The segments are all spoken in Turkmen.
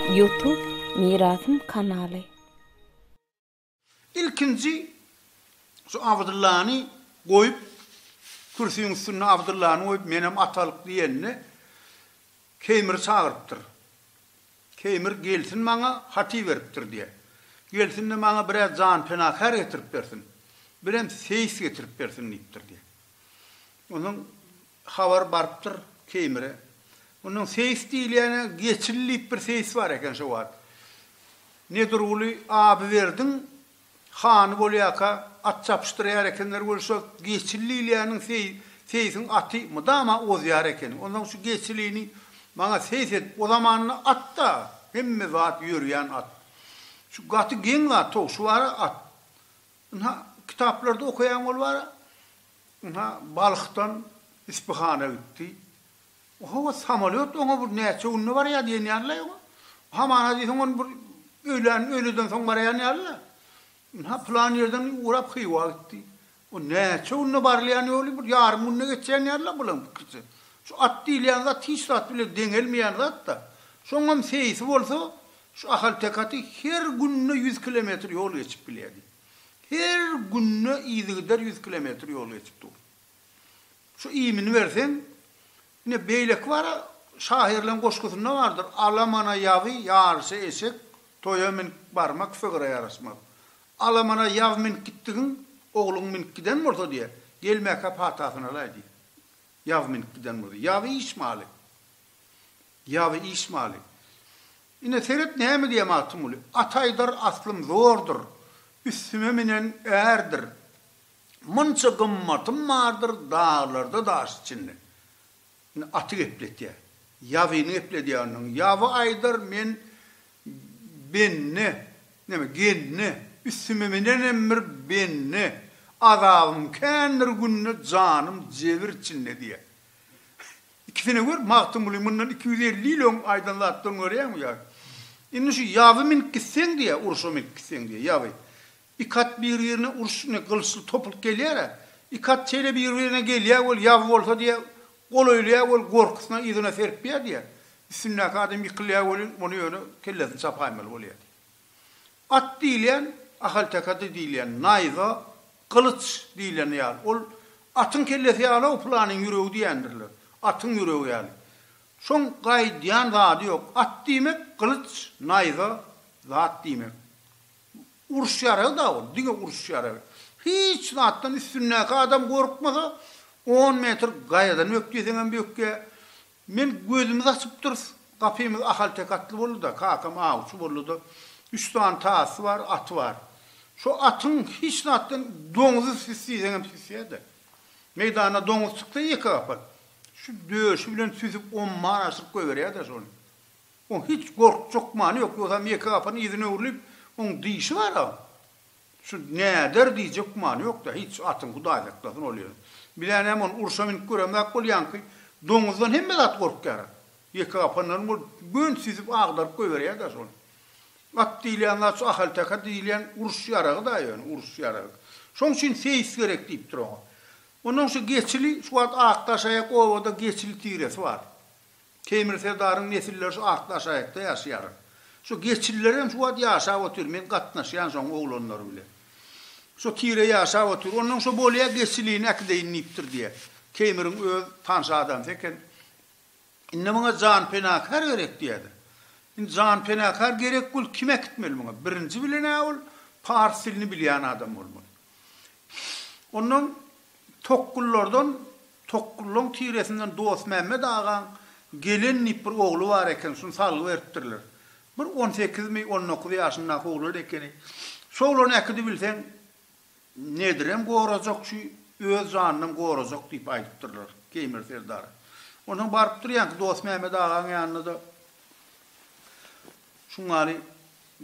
Youtube Mirasym kanaly. Ilkinji şu Abdyllany goýup kürsüň üstünde Abdyllany goýup menem atalyk diýende Keýmiri çagyrypdyr. Keýmir gelsin maňa hat iberipdir diýer. Gelsin-de maňa biraz janpenakär getirip bersin. Birem seýis getirip bersin diýipdir diýer. Onsoň habar barypdyr Keýmire. Onsoň seýis diýilýäne Geçili diýip bir seýis bar eken şo wagt. Nedurguly Abyberdiň Hany bolýarka, at çapyşdyrýar ekenler we şol geçil diýilýäniň seý, seýsiň aty mydama ozýar eken. Onsoň şu geçilini maňa seýs edip, o zamanda at-da, hemme zat ýörýän at. Şu gaty geň zat, towşy bar-a at. Ynha, kitaplarda okaýan bolup-a, ynha, Balhdan Ispyhana gitdi. Ohowa samolýot oňa bir näçe günde barýa diýen ýalylaý oňa. Hamana diýseň ony bir öýlän öýleden soň barýan ýalyla. Ynha pylan ýerden ugrap Hywa gitdi. O näçe günde barylýan ýoly bir ýarym günde geçýän ýalyla bulaň pikirçe. Şu at diýilýän zat hiç zat bilen deňelmeýän zatda. Soňam seýsi bolsa şu ahalteke aty her günde ýüz kilometr ýol geçip bilýädi. Her günde yzygider ýüz kilometr ýol geçip dur. Şu iýmini berseň, ine, beýleki bara şahyrlaryň goşgusynda bardyr, Alamana ýaby, ýaryşa eşek, toýa münüp barmak sygyra ýaraşmaz. Alamana ýaby münüp gitdigiň, ogluň münüp giden bolsa diýe, gelmäkä patasyny alaý diýe. Ýaby münüp giden bolsa. Ýaby iş maly. Ýaby iş maly. Ine, seret näme diýýär Magtymguly, At aýdar aslym zordur, üstüme münen ärdir. Munça gymmatym bardyr daglarda daş içinde. Indi aty gepletýär. Ýazyny gepledýändigiň. Ýazy aýdar men bende, näme, gende, üstüme minenem bir bende, azabym kändir günde janym jebir içinde diýýär. Ikisine gör, Magtymguly mundan iki ýüz elli ýyl öň aýdan zatlaryny görýäňmi ýa. Indi şu ýazy minip gitseň diýýär, urşa minip gitseň diýýär ýazy. Iki at bir-birine uruş ne gylyçly topylyp gelýär-ä. Iki at şeýle bir-birine gelýär weli ýaw bolsa diýýär, golaýlaýar weli gorkusyna yzyna serpýär diýýär. Üstündäki adam ýykylýar welin, ony ýöne kellesini çapaýmaly bolýar diýýär. At diýilýän, ahalteke-de diýilýän, naýza, gylyç diýileni ýaly. Ol atyň kellesi ýaly-ow pylanyň ýüregi diýendirler. Atyň ýüregi ýaly. Şoň gaýdýan zady ýok. At diýmek, gylyç, naýza, zat diýmek. Uruş ýaragy-da ol, diňe uruş ýaragy. Hiç zatdan üstündäki adam gorkmasa, on metr gaýadan bök diýseňem bökýär. Men gözümizi açypdyrys, gapymyz ahalteke atly boldy-da, kakam awçy boldy-da, üç sany tasy bar, aty bar. Şo atyň hiç zatdan doňuzy sis diýseňem sisýär-de. Meýdana doňuz çyksa ýeke gapat, şu döşi bilen süsüp omman aşyryp goýberýär-de şony. Oň hiç gorkjak many ýok, ýogsam ýeke gapyny yzyna öwrülip, oň dişi bar-a. Şu näder diýjek many ýok-da, hiç, atyň Hudaý saklasyn ol ýeri. Biz-ä näme ony urşa münüp göremzak bolýanky, doňuzdan hemme zat gorkýar-a. Ýeke gapandan ol göni süzüp agdaryp goýberýär daş ol. At diýilýän zat şu ahalteke diýilýän uruş ýaragy-da ýöne, uruş ýaragy. Şoň üçin seýis gerek diýipdir oňa. Onnoň şu geçili, şu wagt Akdaşaýak obada geçili tiresi bar. Teýmir serdaryň nesilleri şu atly aşaýakda ýaşaýar. Şu geçililerem şu wagt ýaşap otyr, men gatnaşýan şoň oglanlary bilen. Şu tire ýaşap otyr. Onnoň şu bolýa geçilini äkideýin diýipdir diýýä. Teýmiriň öz tanşy adamsy eken. Indi muňa jan penakar gerek diýýädi. Indi jan penakar gerek bolup kim äkitmeli muňa? Birinji bilen-ä ol pars dilini bilýän adam bolmaly. Ondan Tokgullardan Tokgullaň tiresinden Dostmämmet agaň Gelen diýip bir ogly bar eken, şuny salgy beripdirler. Bir on sekizmi, on dokuz ýaşyndaky oglan ekeni. Şu oglany äkidi bilseň, nedirem gorajak şu, öz janynam gorajak diýip aýdypdyrlar Keýmir serdara. Onsoň barypdyr ýaňky Dostmämmet agaň ýanyna-da, Şuňňaly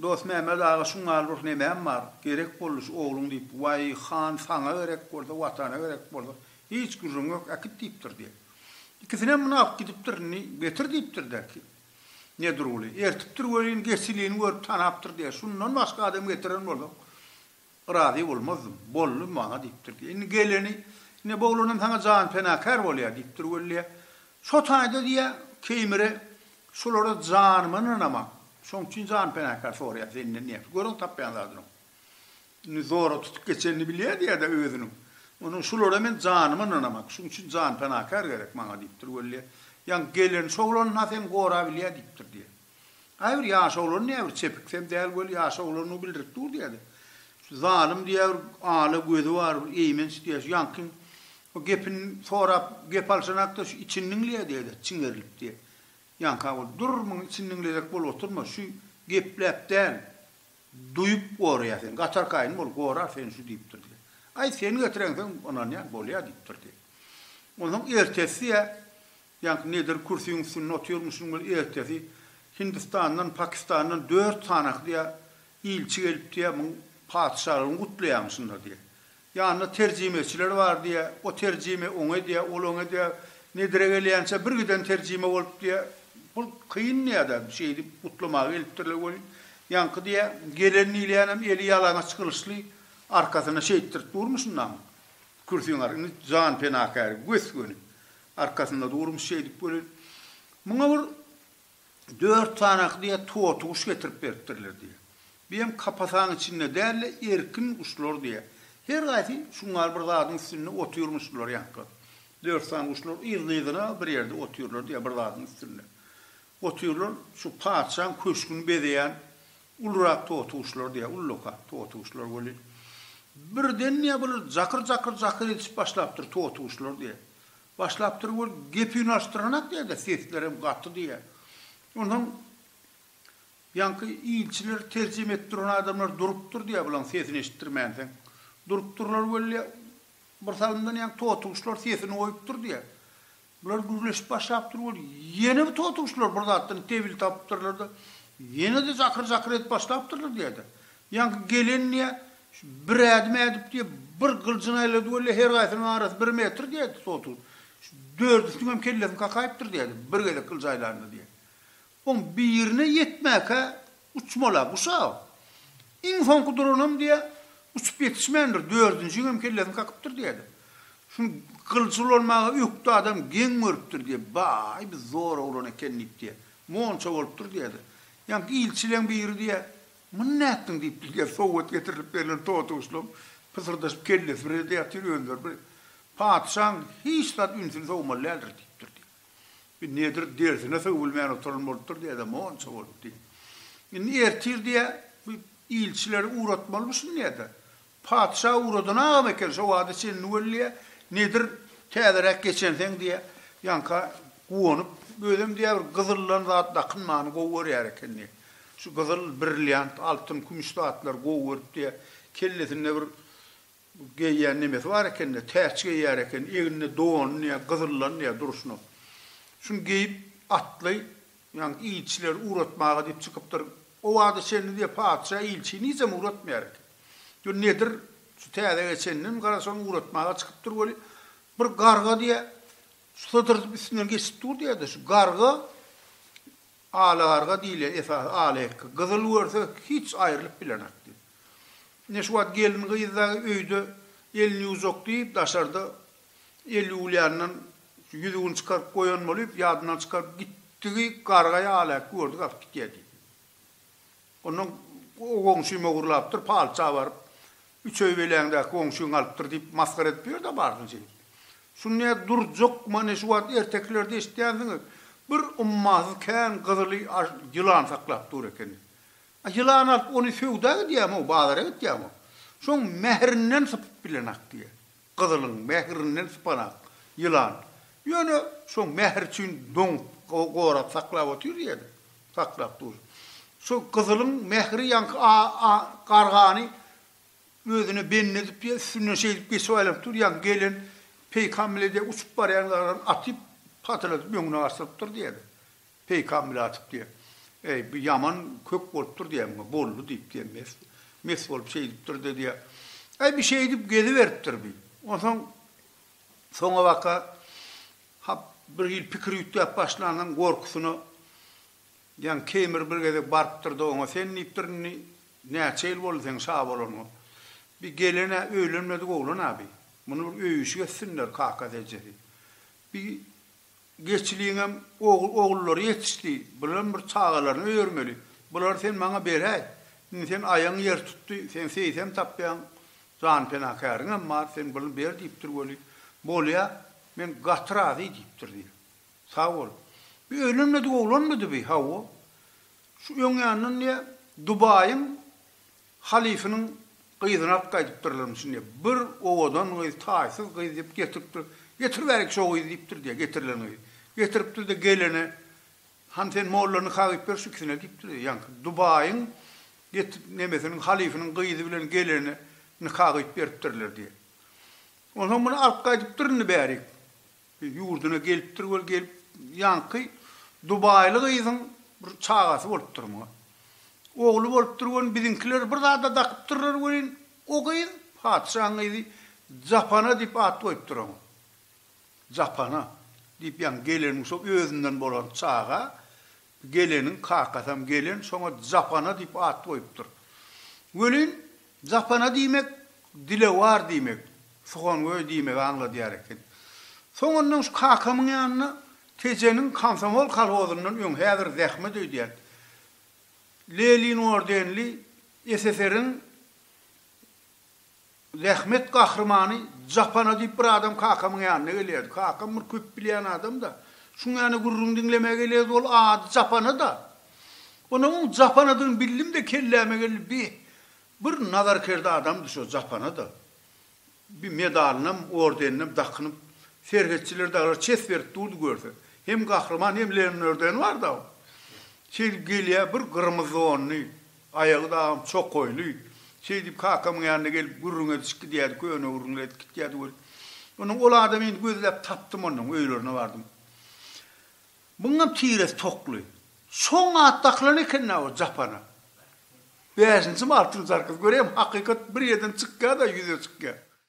Dosmämmet aga şuňňaly ruh nemäm bar, gerek boldy şu ogluň diýip, waý han saňa gerek bolsa, watana gerek bolsa, hiç gürrüň ýok, äkit diýipdir diýip. Ikisinem muny alyp gidipdir, indi getir diýipdir-de, Nedirguly, ertipdir welin, geçilini görüp tanapdyr diýýär, şundan başga adam getiren bolsaň, Razy bolmazdym. Boldy maňa diýipdir. Indi geleni, ine, bu oglanam saňa jan penakär bolýar diýipdir wellä. Şo taýda diýýär, Keýmire, şulara janyma ynanamok. Şoň üçin jan penakär soraýan senden diýýär. Görüň tapýan zadyňy. Indi zora tutup geçenini bilýär diýýär-de özüniň. Onsoň şulara men janyma ynanamok. Şuň üçin jan penakär gerek maňa diýipdir wellä. Ýaňky geleni şo oglan-a seň gorap bilýär diýipdir diýýär. Gaýbir ýaş oglan näbir çepiksem däl weli ýaş oglandygy bildirip dur diýýärdi. Şu zalym diýýär bir ala gözi bar bir eýmenç diýýär şu ýaňky o gepini sorap gep alşanakda şu içini diňleýär diýýärdi çiňerilip diýip. Ýaňka ol dur muny içini diňlejek bolup oturma şu gepläp däl duýup goraýar seni gatar kaýyn bol gorar seni şu diýipdir diýýär. Aý seni getirensoň ynanýan bolýar diýipdir diýip. Onsoň ertesi diýýär Ýaňky Nedir kürsüň üstünde otyrmyşyn we ertesi Hindistandan, Pakistandan dört sanaky diýä ilçi gelip diýä muň patyşalygyny gutlaýamyşynlar diýä. Ýanynda terjimeçiler bar diýä, o terjime oňe diýä, ol oňe diýä. Nedire gelýänçä bir giden terjime bolup diýä, bul kyn diýä-de şeýdip gutlamaga gelipdirler welin, ýaňky diýä gelen diýilýänem eli ýalaňaç gylyçly arkasyna şeýtdirip durmuşyn daň kürsüň ar indi jan penakäri gös göni. Arkasynda durun şeýdip welin, muňa bir dört tanak diýýär toty guş getirip beripdirler diýýär. Bu hem kapasaň içinde däl-de erkin guşlar diýýär. Her gaýsy şuňňar bir zadyň üstünde otyrmyş bular ýaňky. Dört sany guşlar yzly-yzyna bir ýerde otyrlar diýýär bir zadyň üstünde. Otyrlar şu patyşaň köşgüni bezeýän Ulurak totuşlar diýýär, ullaka totuşlar weli, birden diýýär, bular jakyr-jakyr-jakyr edişip başlapdyr, totuşlar diýýär. Başlapdyr we gepi unaşdyranak diýýär-de, sesleri hem gaty diýýär. Onsoň ýaňky ilçiler terjime edip duran adamlar durupdyr diýýär, bularyň sesini eşitdirmänsoň. Durupdyrlar weli, birsalymdan ýaňky totuşlar sesini goýupdyr diýýär. Bular gürleşip başlapdyr weli, ýene bu totuguşlar bir zatdan tebil tapypdyrlar-da, ýene-de jakyr-jakyr edip başlapdyrlar diýýär-de. Ýaňky gelen diýýär, Şu bir ädim ädip diýýär, bir gyljyny aýlady weli, her gaýsynyň arasy bir metr diýýär-de totuguş. Şu dördüsiniň hem kellesini kakaýypdyr diýýär-de, bir gezek gyljy aýlanda diýýär. Soň birine ýetmäkä uçmala guşag. Iň soňky duranam diýýä, uçup ýetişmändir, dördünjiňem kellesini kakypdyr diýýädi. Şuny gylyç ulanmaga ökde adam geň görüpdir diýýä. Baý, biz zor oglan eken diýip diýýä. Monça bolupdyr diýýädi. Ýaňky ilçileň biri diýýä, Muny nätdiň diýipdir diýýä, sowgat getirilip berlen totuguşlam pysyrdaşyp kellesi bir ýerde ýatyr, özleri bir. Patyşaň hiç zat ünsüni sowmaly däldir diýipdir diýýä. Bir nedir dersine sögülmän oturan bolupdyr diýýärler, monça bolup diý. Indi ertir diýýä, bu ilçileri ugratmalymyşyn diýýä-de. Patyşa ugradan agam eken, şo wagta çenli weli diýýä, nedir täzeräk geçenseň diýýä, ýaňka guwanyp, özem diýýä bir gyzyldan zat dakynmany gowy görýär eken diýýä. Şu gyzyl, brilliant, altyn, kümüş zatlary gowy görüp diýýä, kellesinde bir Bu geýýän nemesi bar eken-de, täç geýýär eken, egninde donuny ýa gyzyllany ýa durşuna. Şuny geýip, atly, ýaňky ilçileri ugratmaga diýip çykypdyr. O wagta çenli diýýär, patyşa ilçini hiçem ugratmaýar eken. Diýýär, nedir, şu täze geçeninem garaşalym, ugratmaga çykypdyr weli, bir garga diýýär, sydyrdyp üstünden geçip dur diýýär-de, şu garga, ala garga diýilýär, esasy ala hekge, gyzyl görse, hiç aýrylyp bilenok diýýär. Ine, şu wagt gelin-gyz dagy öýde elini ýuwjak diýip, daşarda el ýuwulýandan şu ýüzügini çykaryp goýan bolup, ýadyndan çykaryp gitdigi garga ýaly-a gördük alyp gitýär diýip. Ondan o goňşym ogurlapdyr, palça baryp, üç öý beläňdäki goňşyň alypdyr diýip, masgara edip ýör-dä barsyn şeýdip. Şuny nädip durjakmy, ine, şu wagt ertekilerde eşitýänsiňiz, bir ummasyz kän gyzyly ýylan saklap dur ekeni. A ýylany alyp ony söwda gidýämo, bazara gitýämo, şoň mährinden sypyp bilenak diýýä. Gyzylyň mährinden sypanak ýylan. Ýöne şoň mähri üçin doňup, gorap saklap otyr ýerde. Saklap dur. Şo gyzylyň mähri ýaňky a-a gargany özüne bendi edip ýa üstünden şeýdip geçip aýlanyp dur, ýaňky gelen peýkam bile diýýä uçup barýan gargany atyp, pataladyp öňüne gaçyrypdyr diýýä. Peýkam bile atyp diýýär. Eý, bu ýaman kök bolupdyr diýýär muňa. Boldy diýip diýýär. Mes, mes bolup şeýdipdir-de diýýär. Eý, bu şeýdip geziberipdir bi. Onsoň soňabaka hap bir hili pikir üýtgäp başlandan gorkusyna diýýän Keýmir bir gezek barypdyr-da oňa sen diýipdir indi näçe ýyl boldy seň şa bolanyňa? Bi gelen-ä öýlenmedik oglan-a bi. Muny bir öýüşik etsinler kakasy-ejesi. Bi Geçiliňem ogullary ýetişdi. Bulam bir çagalaryny öýermeli. Bulary sen maňa beräý. Indi sen aýagyň ýer tutdy. Sen seýsem tapýaň. Jan penakäriňem bar. Sen buny ber diýipdir weli. Bolýa, men gaty razy diýipdir diýýär. Sag bol. Bu öýlenmedik oglanmydy bi? Hawa. Şu öň ýandan diýýär, Dubaýyň Halyfynyň gyzyny alyp gaýdypdyrlarmyş şindi. Bir owadan gyz, taýsyz gyz diýip getiripdir. Getiriberiň şo gyzy diýipdir diýýär, getirilen gyzy. Getiripdir-de gelene, Hany sen molla nika gyýyp ber şu ikisine diýipdir. Ýaňky Dubaýyň geti, nemesiniň, halyfynyň gyzy bilen gelene nika gyýyp beripdirler diýýär. Onsoň muny alyp gaýdypdyr indi bärik. Ýurduna gelipdir ol gelip ýaňky dubaýly gyzyň bir çagasy bolupdyr muňa. Ogly bolupdyr welin biziňkiler bir zada dakypdyrlar welin o gyz patyşaň gyzy Japana diýip at goýupdyr oňa. Japana diýip ýaňy gelenmi şo özünden bolan çaga Geleniň kakasam gelen şoňa Japana diýip at goýupdyr. Welin, Japana diýmek dilewar diýmek, suhangöý diýmegi aňladýar eken. Soňundan şu kakamyň ýanyna Tejeniň komsomol kolhozyndan öň häzir zähmet öýdýän, Lenin ordenli SSR-iň Zähmet gahrymany Japana diýip bir adam kakamyň ýanyna gelýärdi. Kakam bir köp bilýän adam-da. Şuň ýany gürrüň diňlemäge gelýärdi. Ol ady Japana-da. Onda oň Japanadygyny bildim-de kelläme geldi, bi, bir nazarkerde adamdy şo Japana-da. Bi medalynam, ordeninem dakynyp, serhetçiler daglar çes berip durdy görse. Hem gahryman, hem Lennordeni bar-da. Şeýdip gelýär, bir gyrmyzdonly. Aýagy dagam çokaýly. Şeýdip, kakamyň ýanyna gelip, gürrüň edişip gidýärdi, köne gürrüňler edip gitýärdi weli. Onuň ol adamy indi gözläp tapdym onnoň, öýlerine bardym. Muňam tiresi tokly. Şoň atdakylan eken-dä o japana. Bäşinjimi, altynjy arkazy. Göräýem, hakykat bir ýerden çykýa-da, ýüze çykýa.